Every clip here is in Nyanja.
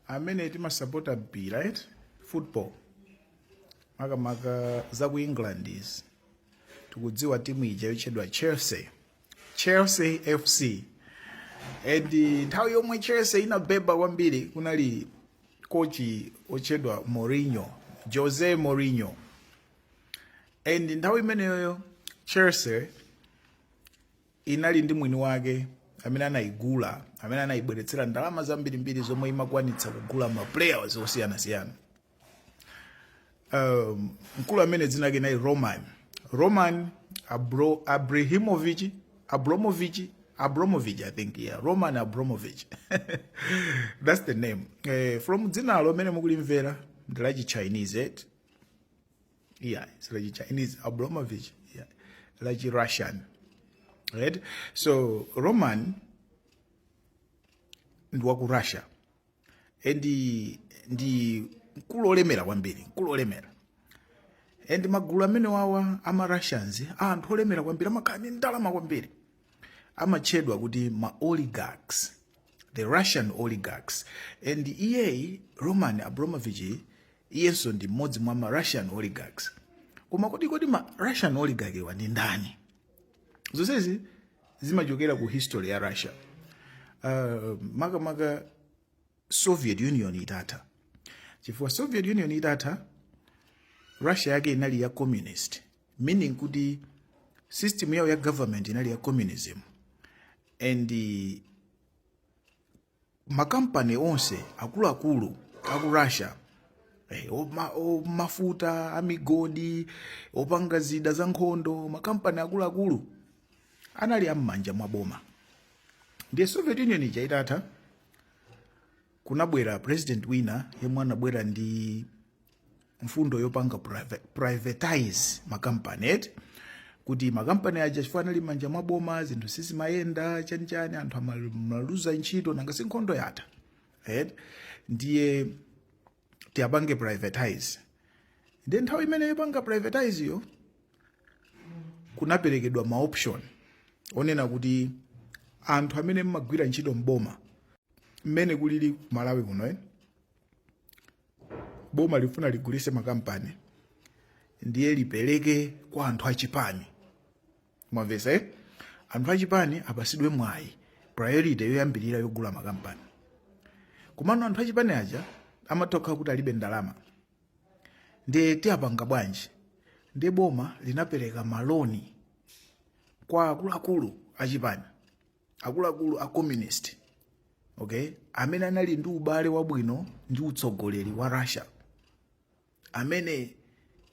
amene timasapota mpira eti football makamaka za ku england eti tikudziwa timu ija yotchedwa chelsea chelsea fc and nthawi yomwe chelsea inabeba kwambiri kunali kochi otchedwa mourinho jose mourinho and nthawi imeneyoyo chelsea inali ndi mwini wake amene anayigula amene anayibweretsera ndalama zambirimbiri zomwe imakwanitsa kugula ma players osiyanasiyana um, mkulu amene dzina lake anali roman roman Abro, Abrahimovich Abramovich Abramovich i think yeah roman Abramovich that's the name eh, from dzinalo amene mukulimvera ndi la chichinese eti Yeah, si la chi Chinese Abramovich, ndi la chi Russian, right? So Roman ndi wa ku Russia and ndi mkulu olemera kwambiri, mkulu olemera and magulu amene wawa ama Russians a anthu olemera kwambiri amakhala ndi ndalama kwambiri amatchedwa kuti ma oligarchs the russian oligarchs and iyeyi roman abramovich iyenso ndi mmodzi mwa ma russian oligarchs koma kodi kodi ma russian oligarch wa ndi ndani zonsezi zimachokera ku history ya russia uh, makamaka soviet union itatha chifukwa soviet union itatha russia yake inali ya communist meaning kuti system yawo ya government inali ya communism and eh, makampani onse akuluakulu aku russia eh, oma- o- mafuta amigodi opanga zida za nkhondo makampani akuluakulu anali am'manja mwa boma ndiye soviet union ija itatha kunabwera president wina yemwe anabwera ndi mfundo yopanga priva- privatize makampani eti kuti makampani aja chifukwa anali manja mwa boma zinthu sizimayenda chanichani anthu amaluza ntchito nanga si nkhondo yatha eti ndiye tiyapange privatize ndiye nthawi imene yopanga privatize yo kunaperekedwa ma option onena kuti anthu amene amagwira ntchito mboma mmene kulili ku malawi kuno eh? boma lifuna ligulise makampani ndiye lipereke kwa anthu achipani mwamvesa eh? anthu achipani apasidwe mwayi priority yoyambirira yogula makampani komano anthu achipani aja amatha kukhala kuti alibe ndalama ndiye tipanga bwanji ndiye boma linapereka maloni kwa akuluakulu achipani akuluakulu a communist okay amene anali ndi ubale wabwino ndi utsogoleri wa russia amene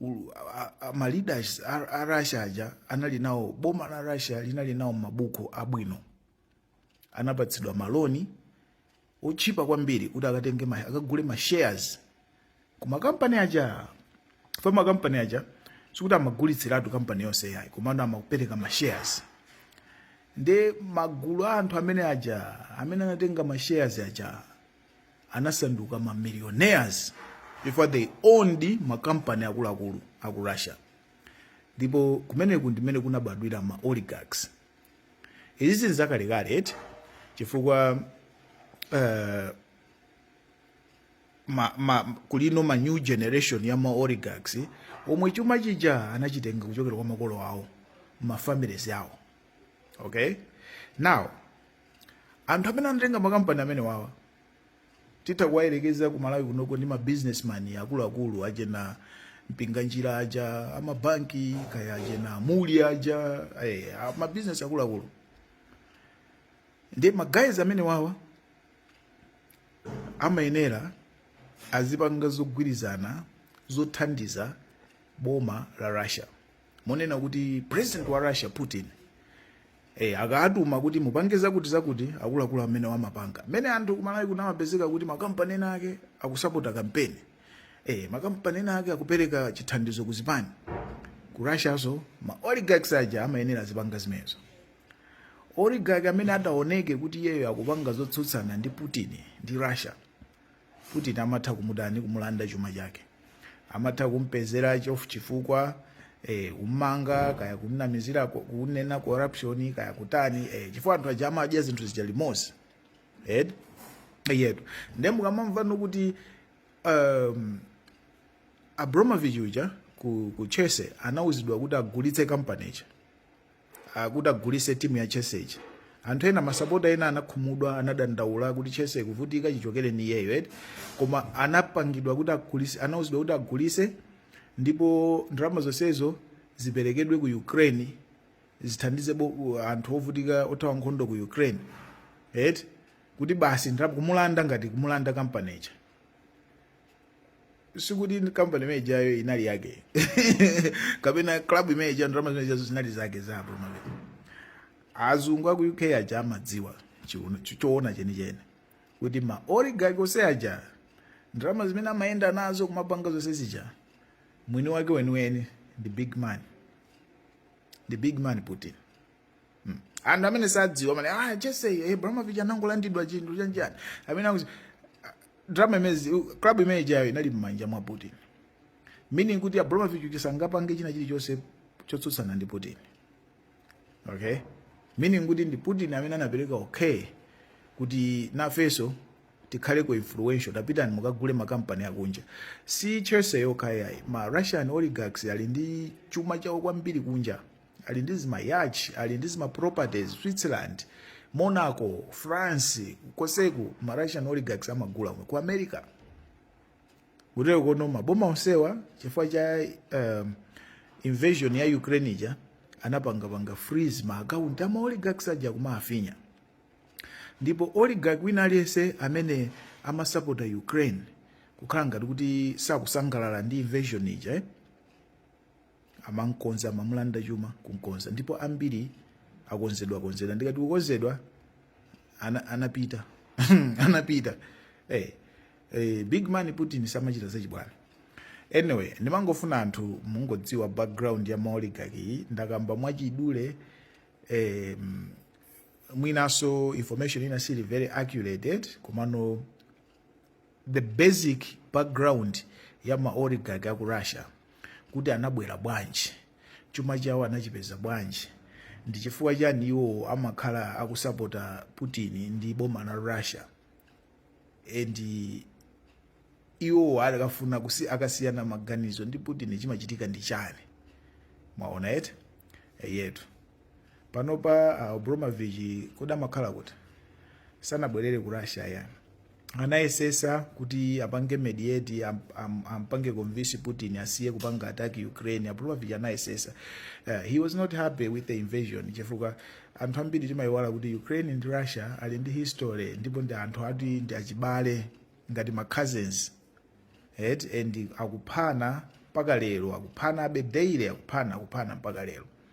u- a- a- ma leaders a a russia aja anali nawo boma la russia linali nawo mabuku abwino anapatsidwa maloni otchipa kwambiri kuti akatenge ma, akagule ma shares ku makampani aja pa makampani aja sikuti amagulitsiratu kampani yonse yayi komano amapereka ma shares nde magulu a anthu amene aja amene anatenga ma shares aja anasanduka ma millionaires before they owned makampani akuluakulu aku russia ndipo kumeneku ndimene kunabadwira ma oligarchs izizi n'zakalekale eti chifukwa uh, ma, ma, kulino ma new generation ya ma oligarchs omwe chuma chija anachitenga kuchokera kwa makolo awo ma families awo okay now anthu amene anatenga makampani amene wawa titha kuwayerekeza ku malawi kunoko ndi mabusinessman akuluakulu achena mpinganjira aja amabanki kaya achena muli aja eh, mabusiness akuluakulu ndi ma guys amene wawa amayenera azipanga zogwirizana zothandiza boma la russia monena kuti president wa russia putin e, akawatuma kuti mupange zakuti zakuti akuluakulu amene wamapanga mmene anthu kumalawi kuno amapezeka kuti makampani ena ake akusapota kampeni e, makampani ena ake akupereka chithandizo ku zipani ku russiaso ma oligarchs aja amayenera azipanga zimenezo oligarch amene angaoneke kuti iyeyo akupanga zotsutsana ndi putin ndi russia Putin amatha kumutani? Kumulanda chuma chake, amatha kumpezera chifukwa eh, kummanga kaya kumnamizira kunena corruption kaya kutani eh, chifukwa anthu aja amadya zinthu zija limodzi eh, yetu nde mukamamvano kuti um, Abramovich uja ku, ku Chelsea anauzidwa kuti agulitse kampani ija uh, kuti agulise timu ya chelsea ija anthu ena masapota ena anakhumudwa anadandaula kuti chelsea ikuvutika chichokereni iyeyo eti koma anapangidwa kuti agulise anauzidwa kuti agulise ndipo ndalama zonsezo ziperekedwe ku ukraine zithandize bo- u- anthu ovutika othawa nkhondo ku ukraine eti kuti basi ndalama kumulanda ngati kumulanda kampani ija sikuti kampani imene ijayo inali yake kapena club imene ija ndalama zimene ijazo zinali zake za Abramovich azungu aku uk aja amadziwa chiuno- cho- choona chenicheni kuti ma oligarch onse aja ndalama zimene amayenda nazo kumapanga zonse zija mwini wake weniweni ndi big man ndi big man putin Hmm. Anthu amene sadziwa amene ah Chelsea eh, Abramovich anangolandidwa chinthu chanjani. Amene akuti ah, drama imezi club imene ijayo inali mmanja mwa Putin. Meaning kuti Abramovich sangapange china chilichonse chotsutsana ndi Putin. Okay? Meaning kuti ndi Putin amene anapereka okay kuti nafeso tikhaleko influential tapitani mukagule makampani akunja si Chelsea yokhayayi ma russian oligarchs ali ndi chuma chawo kwambiri kunja ali ndi zima yacht ali ndi zima properties switzerland monaco france konseku ma russian oligarchs amagula ku america kuteroko no maboma onsewa chifukwa cha um, invasion ya ukraine ija anapangapanga freeze ma account ama oligarchs aja kuwafinya ndipo oligarch wina aliyense amene amasapota ukraine kukhala ngati kuti sakusangalala ndi invasion ija eh? amamkonza amamulanda chuma kumkonza ndipo ambiri akonzedwa konzedwa ndikati kukonzedwa ana, anapita anapita hey, eh, hey, eh, big man putin samachita zachibwana anyway ndimangofuna anthu mungodziwa background ya maoligarch iyi ndakamba mwachidule eh, mwinanso information ina siili very accurate komano the basic background ya maoligarch aku russia kuti anabwera bwanji chuma chawo anachipeza bwanji ndi chifukwa chani iwowo amakhala akusapota putin ndi boma la russia and iwowo akafuna kusi akasiyana maganizo ndi putin chimachitika ndi chani mwaona eti eyetu panopa Abramovich kodi amakhala kuti sanabwerere ku russia ya anayesetsa kuti apange mediate am, am, ampange convince putin asiye kupanga attack ukraine Abramovich anayesetsa uh, he was not happy with the invasion chifukwa anthu ambiri timayiwala kuti ukraine ndi russia ali ndi history ndipo ndi anthu ati ndi achibale ngati ma cousins eti and akuphana mpaka lero akuphanabe daily akuphana akuphana mpaka lero